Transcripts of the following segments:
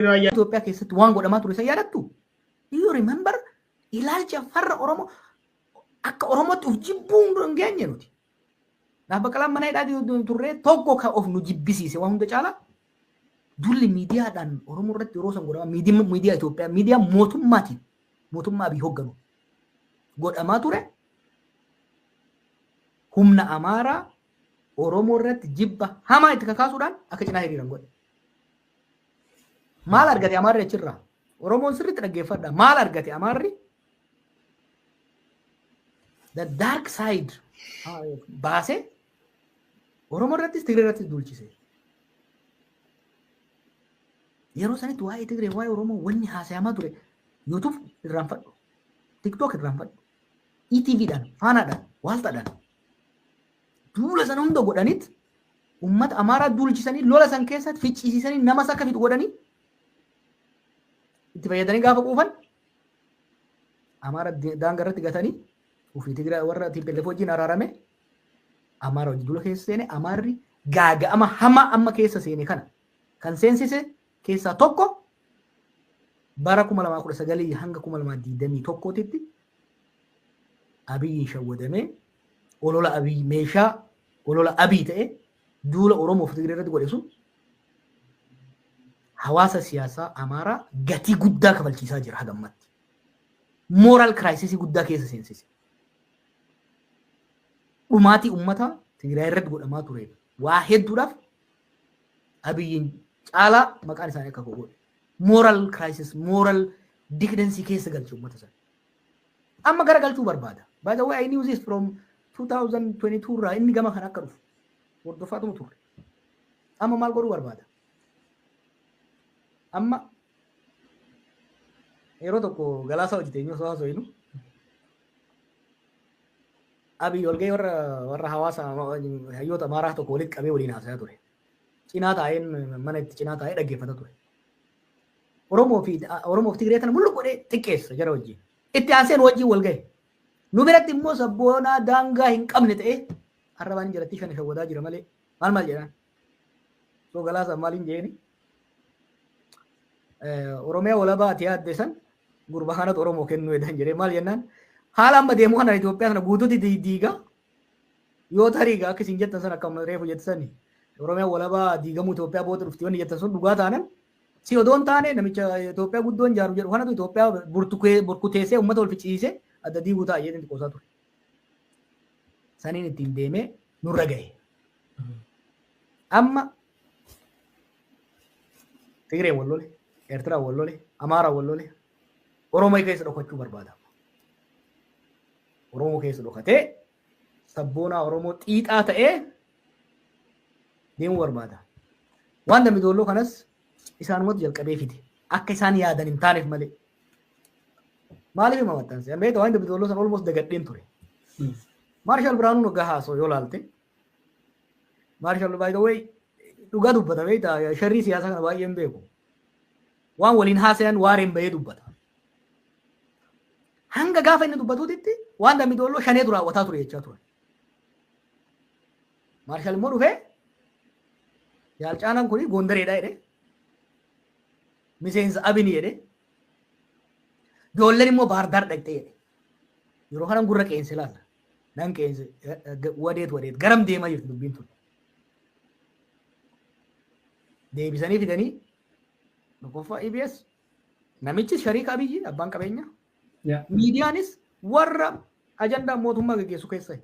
raayyaa Itoophiyaa keessatti waan godhamaa ture san yaadattu? Do you remember? Ilaalcha farra Oromoo akka Oromootti of jibbuu hunduu hin geenye nuti. Naaf baqalaan mana hidhaa turree tokko kan of nu jibbisiise waan hunda caalaa dulli miidiyaadhaan Oromoo irratti yeroo san godhama miidiyaa Itoophiyaa miidiyaa mootummaatiin mootummaa Abiy hoogganu godhamaa ture humna Amaaraa Oromoo irratti jibba hamaa itti kakaasuudhaan akka cinaa hiriiran godhe. Maal argate Amaarri achirraa? Oromoon sirriitti dhaggeeffadha. Maal argate Amaarri? The dark side baasee Oromoo irrattis Tigree irrattis duulchise. Yeroo sanitti waa'ee Tigree waa'ee Oromoo wanni haasayamaa ture YouTube irraan fadhu, TikTok irraan fadhu, ETV dhaan, faanaadhaan, waaltaadhaan duula sana hunda godhanit Uummata Amaaraa duulchisanii lola san keessatti ficcisiisanii namas akka fixu godhanii itti fayyadanii gaafa quufan Amaara daanga irratti gatanii ofii Tigira warra TPLF wajjin araarame Amaara wajjin dula keessa seene Amaarri gaaga'ama hamaa amma keessa seene kana kan seensise keessaa tokko bara 2019 hanga 2021 titti Abiyyiin shawwadamee olola abiy meeshaa olola abiy ta'e duula oromoof tigiree irratti godhe sun hawaasa siyaasaa amaaraa gatii guddaa kafalchiisaa jira hagammatti mooraal kiraayisisii guddaa keessa seensise dhumaatii ummataa tigiraay irratti godhamaa tureef waa hedduudhaaf abiyyiin caalaa maqaan isaanii akka godhe mooraal kiraayisis mooraal dikidensii keessa galche ummata sana Amma gara galchuu barbaada. By the way, I knew this from 2022 irraa inni gama kana akka dhufu hordoffaatuma turre. Amma maal godhuu barbaada? Amma yeroo tokko galaasaa hojjete eenyu osoo haasoo inu abiy walgahii warra warra hawaasa hayyoota amaaraa tokko walitti qabee waliin haasayaa ture. Cinaa taa'een mana itti cinaa taa'ee dhaggeeffata ture. Oromoo fi Oromoo fi Tigree kana mullu godhee xiqqeessa jara wajjin. Itti aansee nu wajjin wal gahe. Nu biratti immoo sabboonaa daangaa hin qabne ta'ee arrabaan jalattii kana shawwadaa jira malee maal maal jedhaan. Soo galaasaan maal hin jeeni. Oromiyaa walabaa ati yaadde san gurba kanatu Oromoo kennuu jedhan jedhee maal jennaan haala amma deemu kana Itoophiyaa kana guutuutti diigaa yoo tarii akka isin jettan san akkam reefu jettan sani Oromiyaa walabaa diigamuu Itoophiyaa booda dhufti wanni jettan sun dhugaa taanan Si odoo hin taane namicha Itoophiyaa guddoon jaaru jedhu kanatu Itoophiyaa burtukee- burkuteessee uummata wal ficcisiisee adda diiguu ta'a jedhanii qoosaa ture. Saniin ittiin deemee nurra gahe. Amma Tigree wal lole, Eertiraa wal lole, Amaaraa wal lole, Oromoo keessa dhokachuu barbaada. Oromoo keessa dhokatee sabboonaa Oromoo xiixaa ta'ee deemuu barbaada. Waan dambi doolloo kanas isaanumatu jalqabee fide. Akka isaan yaadan hin taaneef malee. Maaliif hima maxxanse? Amma egaa waan dambi doolloo sana olmoos dagadheen ture. Maarshaal Biraanuun waggaa haasoo yoo laalte. Maarshaal by the way dhugaa dubbata beektaa sharrii siyaasaa kana baay'een beeku. Waan waliin haasayan waareen bahee dubbata. Hanga gaafa inni dubbatuutitti waan dambi doolloo shaneetu raawwataa ture jechaa turan. Maarshaal immoo dhufee jaal caalaan kun goondareedha jedhe. Miseensa abini jedhe. Joolleen immoo baardaar dhaqxee jedhe. Yeroo kanan gurra qeense laata. Nan qeense wadeet wadeet garam deemaa jirti dubbiin tun. deebisanii fidanii tokkoffaa EBS namichi shariika abiyyi abbaan qabeenya Yeah. miidiyaanis warra ajandaa mootummaa gaggeessu keessa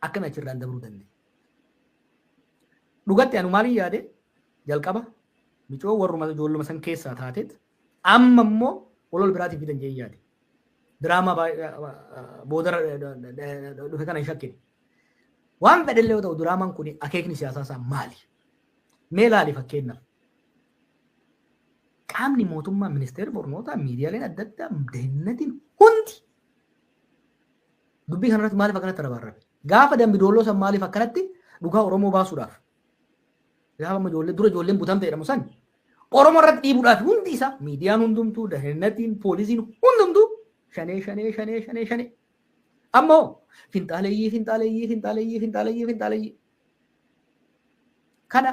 akkami achirraan dabruu dandeenye. Dhugatti anu maaliin yaade jalqaba micoo warruma ijoolluma san keessaa taateet amma immoo walol biraatiif fidan jee yaade. Diraamaa baay'ee boodara dhufe kana hin shakkine. Waan fedhellee yoo ta'u diraamaan kun akeekni siyaasaa isaa maali? Mee ilaali fakkeenyaaf. Qaamni mootummaa ministeerri barnootaa miidiyaaleen adda addaa dahinnatiin hundi dubbii kanarratti maaliif akkanatti rabarrabe? Gaafa dambi doolloo san maaliif akkanatti dhugaa Oromoo baasuudhaaf? Gaafa amma ijoollee dura ijoolleen butamte jedhamu san Oromoo irratti dhiibuudhaaf hundi isaa miidiyaan hundumtuu dahinnatiin poolisiin hundumtuu shanee shanee shanee shanee shanee Amma hoo finxaaleyyii finxaaleyyii finxaaleyyii finxaaleyyii finxaaleyyii kana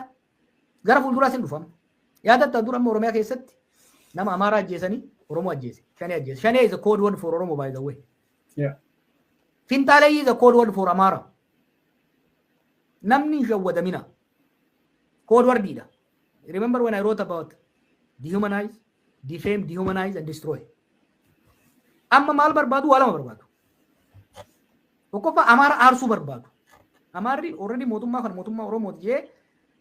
gara fuulduraas hin dhufama. Yaadatta dura amma Oromiyaa keessatti nama Amaaraa ajjeesanii Oromoo ajjeese. Shanee ajjeese. Shanee is a code word for Oromo by the way. Yeah. Finxaaleyyii is a code word for Amaara. Namni hin shawwadamina. Code wordidha. Remember when I wrote about dehumanize, defame, dehumanize and destroy. Amma maal barbaadu waa lama barbaadu. Tokkoffaa Amaara aarsuu barbaadu. Amaarri already mootummaa kan mootummaa Oromooti jee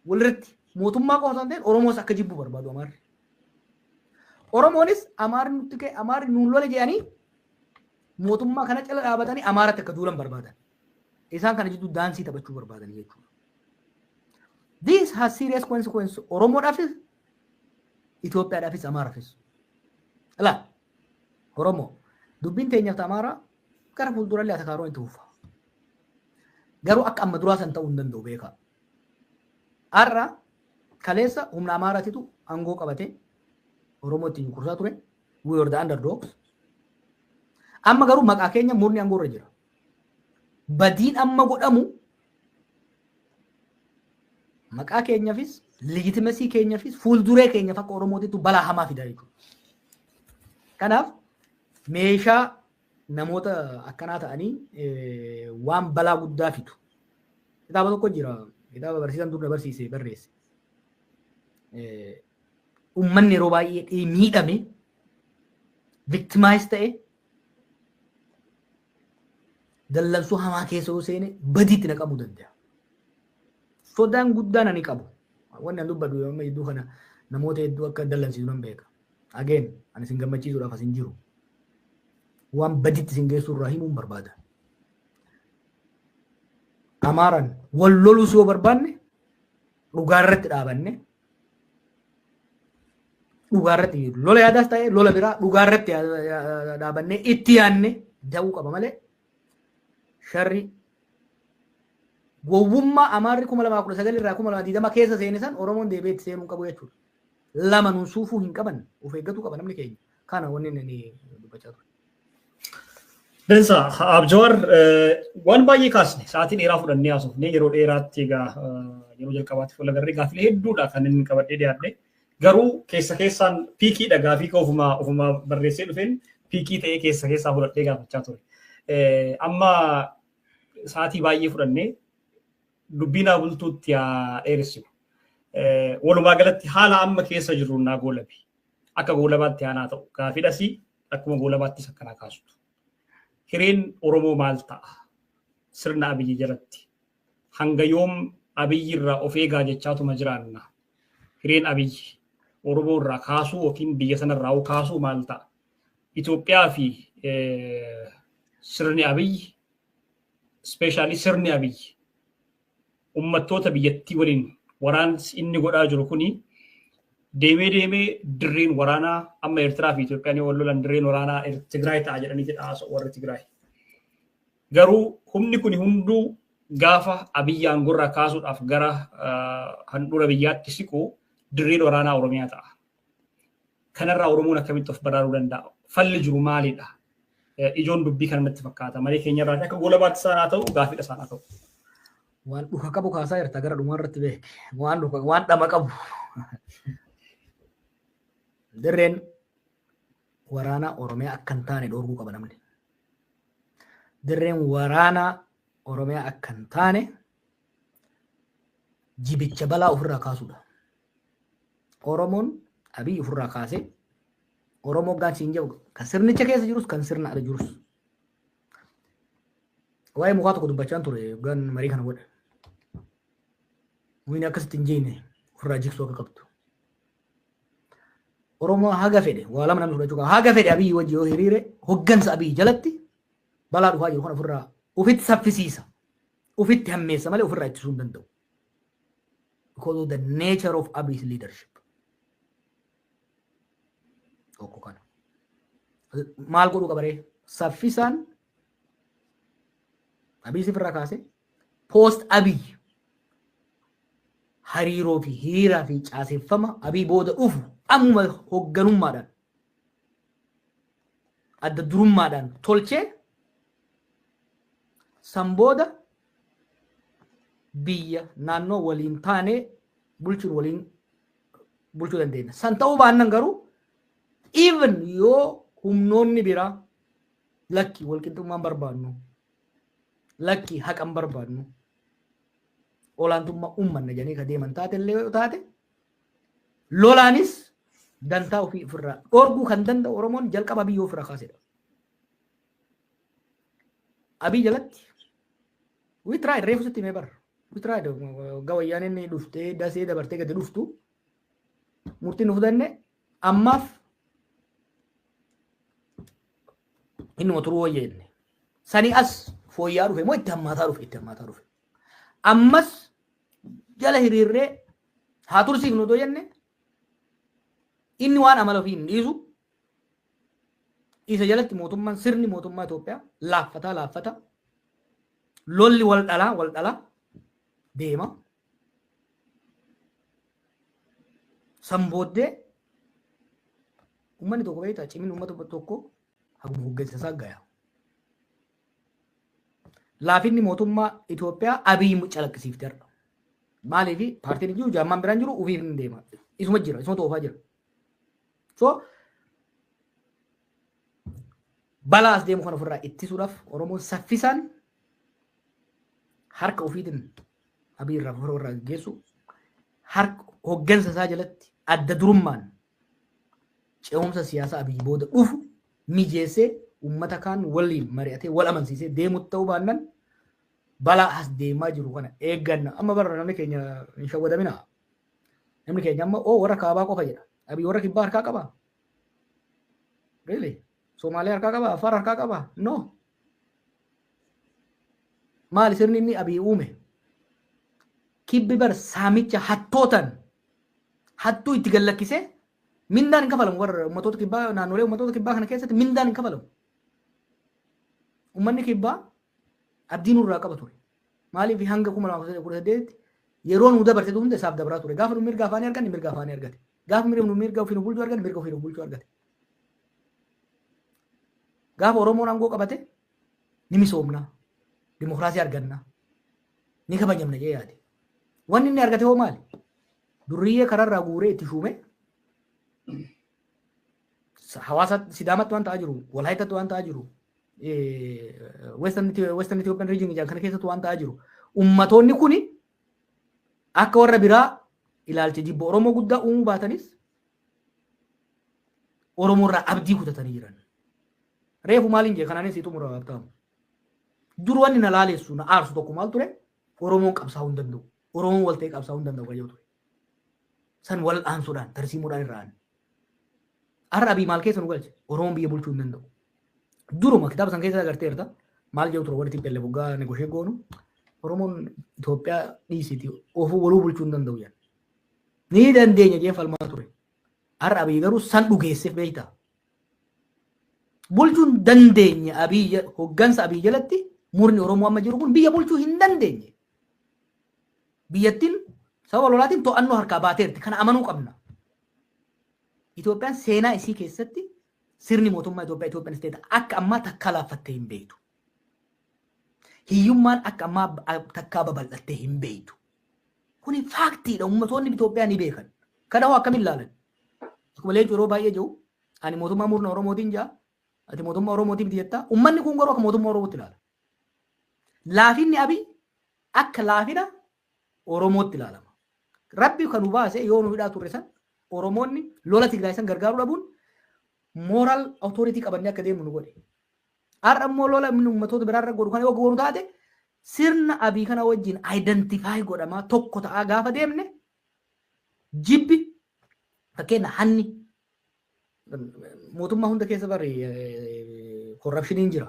walirratti mootummaa qofa osoo hin ta'in Oromoos akka jibbu barbaadu Amaarri. Oromoonis Amaarri nutti ka'e Amaarri nuun lola jedhanii mootummaa kana cala dhaabatanii Amaaratti akka duulan barbaadan. Isaan kana jidduu daansii taphachuu barbaadanii jechuudha. This has serious consequence Oromoodhaafis Itoophiyaadhaafis Amaaraafis. Ilaa Oromoo dubbiin teenyaaf Amaaraa gara fuuldurallee atakaaroon itti fufa. Garuu akka amma duraa san ta'uu hin danda'u beekaa. Har'a kaleessa humna Amaaraatitu aangoo qabatee Oromoo ittiin kursaa ture. We were the underdogs. Amma garuu maqaa keenya murni aangoo irra jira. badiin amma godhamu maqaa keenyafis legitimesii keenyafis fuulduree keenyaf akka Oromootitu balaa hamaa fida jechuudha. Kanaaf meeshaa namoota akkanaa ta'anii waan balaa guddaa fidu. Kitaaba tokko jira. Kitaaba barsiisaan dur na barsiise barreesse. Uummanni yeroo baay'ee miidhame victimize ta'e Dallansuu hamaa keessa yoo seene badiitti na qabuu danda'a. Sodaan guddaan ani qabu. Wanni an dubbadhu yoo amma hedduu kana namoota hedduu akka dallansiisu nan beeka. Ageen ani isin gammachiisuudhaaf as hin jiru. Waan badiitti isin geessuu irraa himuun barbaada. Amaaran wal lolus yoo barbaanne dhugaa irratti dhaabanne dhugaa irratti hin jiru. Lola yaadaas ta'e lola biraa dhugaa irratti yaa- yaa- dhaabannee itti yaanne da'uu qaba malee sharri gowwummaa amaarri kuma lamaa kudha sagal irraa kuma lamaa digdama keessa seene san Oromoon deebi'ee itti seenuu hin qabu jechuudha. Lama nun suufuu hin qaban of eeggatu qaba namni keenya. Kana wanni inni dubbachaa ture. Densa Abjawar waan baay'ee kaasne sa'aatii dheeraa fudhannee haasofne yeroo dheeraatti egaa yeroo jalqabaatti fuula garree gaaffilee hedduudha kan inni qabadhee dhiyaadhe. Garuu keessa keessaan piikiidha gaafii koo ofumaa ofumaa barreessee dhufeen piikii ta'ee keessa keessaa fudhadhee gaafachaa ture. Amma sa'aatii baay'ee fudhannee dubbii naa bultuutti haa dheeressinu. Walumaa galatti haala amma keessa jirru naa goolabi. akka goolabaatti aanaa ta'u gaafidhasi akkuma goolabaattis akkanaa kaastu. Hireen Oromoo maal ta'a? Sirna Abiyyi jalatti hanga yoom Abiyyi irraa of eegaa jechaatuma jiraanna. Hireen Abiyyi Oromoo irraa kaasuu yookiin biyya sanarraa hoo kaasuu maal ta'a? Itoophiyaa fi sirni Abiyyi ispeeshaalii sirni Abiyyi ummattoota biyyattii waliin waraansi inni godhaa jiru kuni deemee deemee dirreen waraanaa amma Eertiraa fi Itoophiyaan yoo wal lolan dirreen waraanaa Er- Tigraay ta'a jedhanii jedha haasa'u warri Tigraay. Garuu humni kuni hunduu gaafa Abiyyi aangorraa kaasuudhaaf gara ah, handhuura biyyaatti siqu dirreen waraanaa Oromiyaa ta'a. Kanarraa Oromoon akkamitti of baraaruu danda'a? Falli jiru maalidha? Ijoon dubbii kana natti fakkaata. Marii keenyarraa akka goolabaatti isaan haa ta'u, gaaffiidha isaan haa ta'u. Waan dhuka qabu kaasaa jirta gara dhumaa irratti beeke. Waan dhuka waan dhama qabu. Dirreen waraanaa Oromiyaa akka hin taane dhoorguu qaba namni. Dirreen waraanaa Oromiyaa akka hin taane jibicha balaa ofirraa kaasuudha. Oromoon Abiy ofirraa kaasee Oromoo gaan siin jedhu kan sirnicha keessa jirus kan sirna ala jirus. Waa'ee mukaa tokko dubbachaan ture gaan marii kana godhe. Muyni akkasitti hin jeenne ofirraa jiksuu akka qabdu. Oromoo haga fedhe waa lama namni fudhachuu qaba. Haga fedhe Abiy wajji yoo hiriire hoggansa Abiy jalatti balaa dhufaa jiru kan ofirraa ofitti saffisiisa. Ufitti hammeessa malee ofirraa ittisuu hin danda'u. Because of the nature of Abiy's leadership. Tokko kana. Maal godhuu qabaree? Saffisaan Abiy sifirraa kaase post Abiy hariiroo fi hiriiraa fi caaseffama Abiy booda dhufu ammuma hoogganummaadhaan adda durummaadhaan tolchee san booda biyya naannoo waliin taanee bulchuun waliin bulchuu dandeenya. San ta'uu baannan garuu even yoo humnoonni biraa lakki walqixxummaan barbaadnu lakki haqan barbaadnu olaantummaa uummanna jedhanii ka deeman taate illee yoo taate Lolaanis dantaa ofii ofirraa dhorguu kan danda'u Oromoon jalqaba Abiyyoo ofirraa kaasedha. Abiy jalatti we tried reefu sitti himee bara. We tried waggaa wayyaan inni dhuftee dasee dabartee gadi dhuftu murtiin nu fudanne ammaaf innuma turuu wayya inni. Sanii as fooyya'aa dhufe moo itti hammaataa dhufe itti hammaataa dhufe. Ammas jala hiriirree haa tursiifnu otoo jenne inni waan amala ofii hin dhiisu isa jalatti mootummaan sirni mootummaa Itoophiyaa laaffataa laaffata lolli wal dhalaa wal dhalaa deema. San booddee uummanni tokko beektaa cimina uummata tokko haguma hoggansa isaa gayaa. laafinni mootummaa Itoophiyaa Abiy calaqqisiifte har'a. Maaliif paartiin jiru jaammaan biraan jiru ofiif hin deema. Isuma jira, isuma toofaa jira. So balaa as deemu kana ofirraa ittisuudhaaf Oromoon saffisaan harka ofiitiin Abiy irraa ofirraa gaggeessu harka hoggansa isaa jalatti adda durummaan ce'umsa siyaasaa Abiy booda dhufu mijeessee uummata kaan waliin mari'atee wal amansiisee deemutti ta'uu baannan balaa as deemaa jiru kana eegganna. Amma bara namni keenya hin shawwadamina. Namni keenya amma oo warra kaabaa qofa jedha. Abiy warra kibbaa harkaa qaba. Really? Somaaliyaa harkaa qaba? Affaar harkaa qaba? No. Maali sirni inni Abiy uume? Kibbi bar saamicha hattootan hattuu itti gallakkisee mindaan hin kafalamu warra ummatoota kibbaa naannolee ummatoota kibbaa kana keessatti mindaan hin kafalamu. Ummanni kibbaa abdii nurraa qaba ture. Maaliif hanga kuma lamaa fi kudha saddeetitti yeroo nu dabarsitu hunda isaaf dabraa ture. Gaafa nu mirga afaanii arganne mirga afaanii argate. Gaafa mirga nu mirga ofii nu bulchuu arganne mirga ofii nu bulchuu argate. Gaafa Oromoon aangoo qabate ni misoomna, dimokiraasii arganna, ni kabajamna jee yaade. Wanni inni argate hoo maali? Durriyyee kararraa guuree itti shuume hawaasa sidaamatti waan ta'aa jiru, walaayitatti waan ta'aa jiru, western Ethiopian region jedhan kana keessatti waan ta'aa jiru. Ummatoonni kuni akka warra biraa ilaalcha jibba Oromoo guddaa uumuu baatanis Oromoo irraa abdii kutatanii jiran. Reefu maaliin jee kanaanis sii xumura Habtaamu. Dur wanni na laaleessu na aarsu tokko maal ture? Oromoon qabsaa'uu hin danda'u. Oromoon wal ta'ee qabsaa'uu hin danda'u kan jedhu ture. San wal aansuudhaan tarsiimuudhaan irraa aanne. Har'a abii maal keessa nu galche? Oromoon biyya bulchuu hin danda'u. Duruma kitaaba san keessa agarteerta maal jedhu ture warri tippelle boggaa negoshee goonu Oromoon Itoophiyaa dhiisiiti ofuu waluu bulchuu hin danda'u jedhan. Ni dandeenya jeen falmaa ture. Har'a Abiy garuu san dhugeesseef beektaa. Bulchuun dandeenya Abiy hoggansa Abiy jalatti murni Oromoo amma jiru kun biyya bulchuu hin dandeenye. Biyyattiin sababa lolaatiin to'annoo harkaa baateerti. Kana amanuu qabna. Itoophiyaan seenaa isii keessatti sirni mootummaa Itoophiyaa Itoophiyaan isteeta akka ammaa takkaa laaffattee hin beektu. Hiyyummaan akka ammaa takkaa babal'attee hin beektu. Kuni faaktiidha ummatoonni Itoophiyaa ni beekan. Kana hoo akkamiin ilaalan? Akkuma leencu yeroo baay'ee jiru ani mootummaa murna Oromootiin jaa ati mootummaa Oromootii miti jettaa ummanni kun garuu akka mootummaa Oromootti ilaala. Laafinni Abiy akka laafina Oromootti ilaalama. Rabbi kan nu baase yoo nu hidhaa turre san Oromoonni lola Tigraay san gargaaruu dhabuun mooral authority qabannee akka deemnu nu godhe. Har'a immoo lola inni ummatoota biraarra godhu kana yoo goonu taate sirna abii kana wajjin identify godhamaa tokko ta'aa gaafa deemne jibbi fakkeenya hanni mootummaa hunda keessa bari korrapshiniin jira.